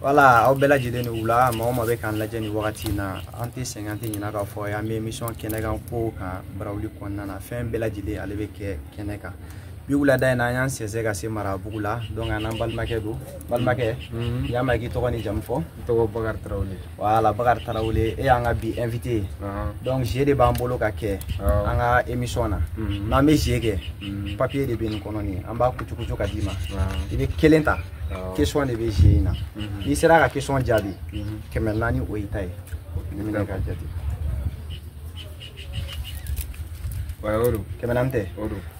voilà aw bɛɛ lajɛlen ni wula maa o maa bɛ k'an lajɛ nin wagati in na an tɛ sɛgɛn an tɛ ɲinɛ k'a fɔ an bɛ émission kɛnɛ kan kow kan barawuli kɔnɔna na fɛn bɛɛ lajɛlen ale bɛ kɛ kɛnɛ kan bi wulada in na an y'an sɛnsɛn ka se marabugu la donc an n'an balimakɛ don balimakɛ mhm. y'a mɛn k'i tɔgɔ ni jamu fɔ n tɔgɔ bakari tarawele voilà bakari tarawele e y'an ka bi invité ye donc jeu de b'an bolo ka kɛ an ka émission na mhm. n'an bɛ jeu kɛ mhm. papier de bɛ nin kɔnɔ nin an b'a kucukucu ka d'i ma i bɛ kelen ta question de bɛ jeu in na n'i sera ka question jaabi kɛmɛ naani o y'i ta ye nin minɛ k'a jate kɛmɛ naani tɛ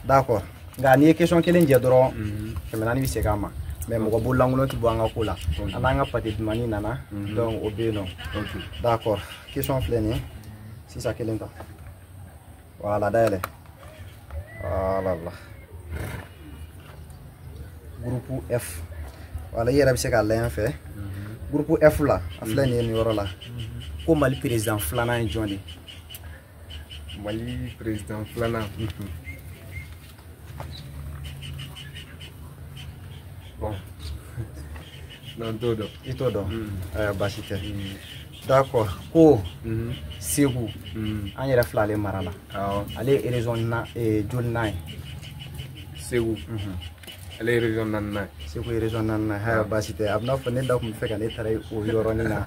d'accord nka n'i ye question kelen jɛ dɔrɔn kɛmɛ naani bɛ segin a ma mais mɔgɔ bolo lankolon tɛ bɔ an ka ko la an n'an ka pate dumani nana donc o bɛ yen nɔ d'accord question filɛ nin ye sisan kelen ta Voilà, dale. Voilà, voilà. Groupe F. Voilà, il y a un secret à l'enfer. Groupe F là, à fleur ni yɔrɔ la. Ko Mali président filanan ye jɔn de ye? Mali président filanan. Bon. Non n t'o dɔn. I t'o dɔn. Ɛɛ baasi tɛ. D'accord ko Segu an yɛrɛ filɛ ale mara la. Awɔ. Ale ye région na ee jolinan ye. Segu. Ale ye région naaninan ye. Segu ye région naaninan ye. Haya baasi tɛ. A bɛ n'a fɔ ne da tun bɛ fɛ ka ne taara o yɔrɔnin na.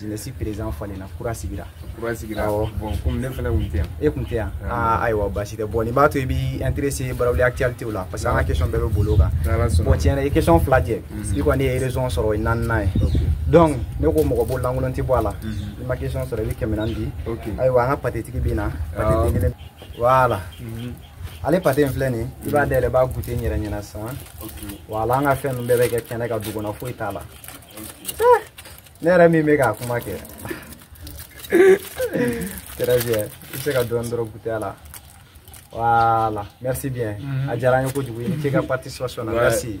jeunesse président falenna kura sigira kura sigira bon comme ne fana kun tɛ yan e kun tɛ yan aa ayiwa baasi tɛ bon nin b'a to i b'i intéressé barawuli actualité la parce que an ka question bɛɛ bɛ boli o kan bon tiɲɛ na i question fila jɛ i kɔni ye région sɔrɔ i naaninan ye donc ne ko mɔgɔ bolo lankolon tɛ bɔ a la i ma question sɔrɔ i bɛ kɛmɛ naani di ayiwa an ka patetigi bɛ na pate den kelen voilà ale pate in filɛ nin i b'a dayɛlɛ i b'a goûter n yɛrɛ ɲɛna sisan voilà an ka fɛn ninnu bɛɛ bɛ kɛ kɛnɛ kan du kɔnɔ foyi t'a la ne yɛrɛ min bɛ ka kuma kɛ très bien i bɛ se ka dɔɔni dɔrɔn goûter a la voilà merci bien a diyara an ye kojugu i ni ce i ka participation na merci